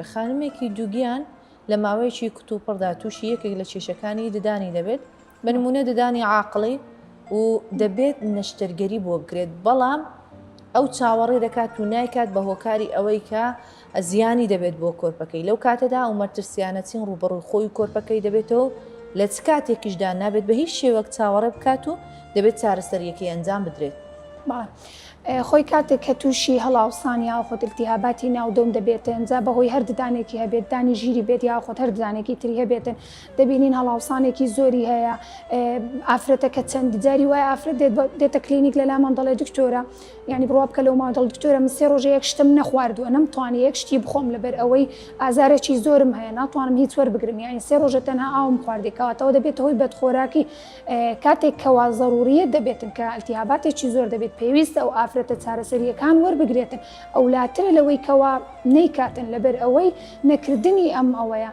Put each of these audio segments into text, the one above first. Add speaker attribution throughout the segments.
Speaker 1: خانمێکی دووگیان لە ماوەیەکی کتوپڕدا تووشی یەکێک لە کێشەکانی ددانی دەبێت، بە نموونە ددانی عاقڵی و دەبێت نەشتەرگەری بۆ بکرێت، بەڵام ئەو چاوەڕێ دەکات و نایکات بە هۆکاری ئەوەی کە زیانی دەبێت بۆ کۆرپەکەی، لەو کاتەدا ئەو مەرترسیانە چین ڕووبەڕووی خۆی و کۆرپەکەی دەبێتەوە و لە چ کاتێکیشدا نابێت بە هیچ شێوەک چاوەڕێ بکات و دەبێت چارەسەرییەکەی ئەنجام بدرێت.
Speaker 2: خۆی کاتێک کە تووشی هەڵاوسان یاخود التهاباتی ناو دۆم دەبێتن جا بەهۆی هەر ددانێکی هەبێت ددانی ژیری بێت یاخود هەر ددانێکی تری هەبێتن دەبینین هەڵاوسانێکی زۆری هەیە ئافرەتەکە چەند جاری وایە ئافرەت دێت دێتە کلینیک لە لامان دەڵێ دکتۆرە یعنی بڕوا بکە لەو مادەڵ دکتۆرە من سێ ڕۆژە یەک شتم نەخواردووە نەمتوانی یەک شتی بخۆم لەبەر ئەوەی ئازارێکی زۆرم هەیە ناتوانم هیچ وەربگرم یعنی سێ ڕۆژە تەنها ئاوم خواردی کەواتەوە دەبێتە هۆی بەدخۆراکی کاتێک کەوا زەرورییە دەبێتن کە التیهاباتێکی زۆر دەبێت پێویستە ئەو ئافرەتە چارەسەرییەکان وەربگرێتن ئەولاترە لەوەی کەوا نەیکاتن لەبەر ئەوەی نەکردنی ئەم ئەوەیە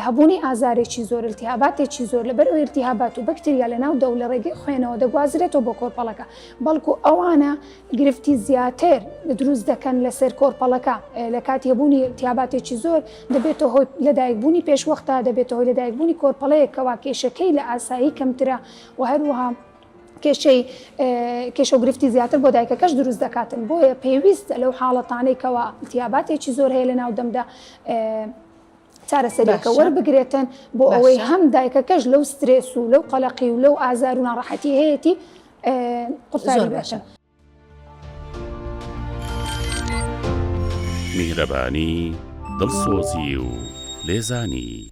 Speaker 2: هەبوونی ئازارێکی زۆر التیهاباتێکی زۆر لەبەر ئەو التیهابات و بەکتریا لەناو دەو لە ڕێگەی خوێنەوە دەگوازرێتەوە بۆ کۆرپەڵەکە بەڵکو ئەوانە گرفتی زیاتر دروست دەکەن لەسەر کۆرپەڵەکە لە کاتی هەبوونی التیهاباتێکی زۆر دەبێتە هۆی لەدایکبوونی پێشوەختە، دەبێتە هۆی لەدایکبوونی کۆرپەڵەیەک کەوا کێشەکەی لە ئاسایی کەمترە و هەروەها کێشەی کێشە و گرفتی زیاتر بۆ دایکەکەش دروست دەکاتن، بۆیە پێویستە لەو حاڵەتانەی کەوا التیاباتێکی زۆر هەیە لەناو دەمدا چارەسەریەکە وەربگرێتن بۆ ئەوەی هەم دایکەکەش لەو سترێس و لەو قەلەقی و لەو ئازار و ناڕەحەتی هەیەی قورتاری باشە.
Speaker 3: میهرەبانی دڵسۆزی و لێزانی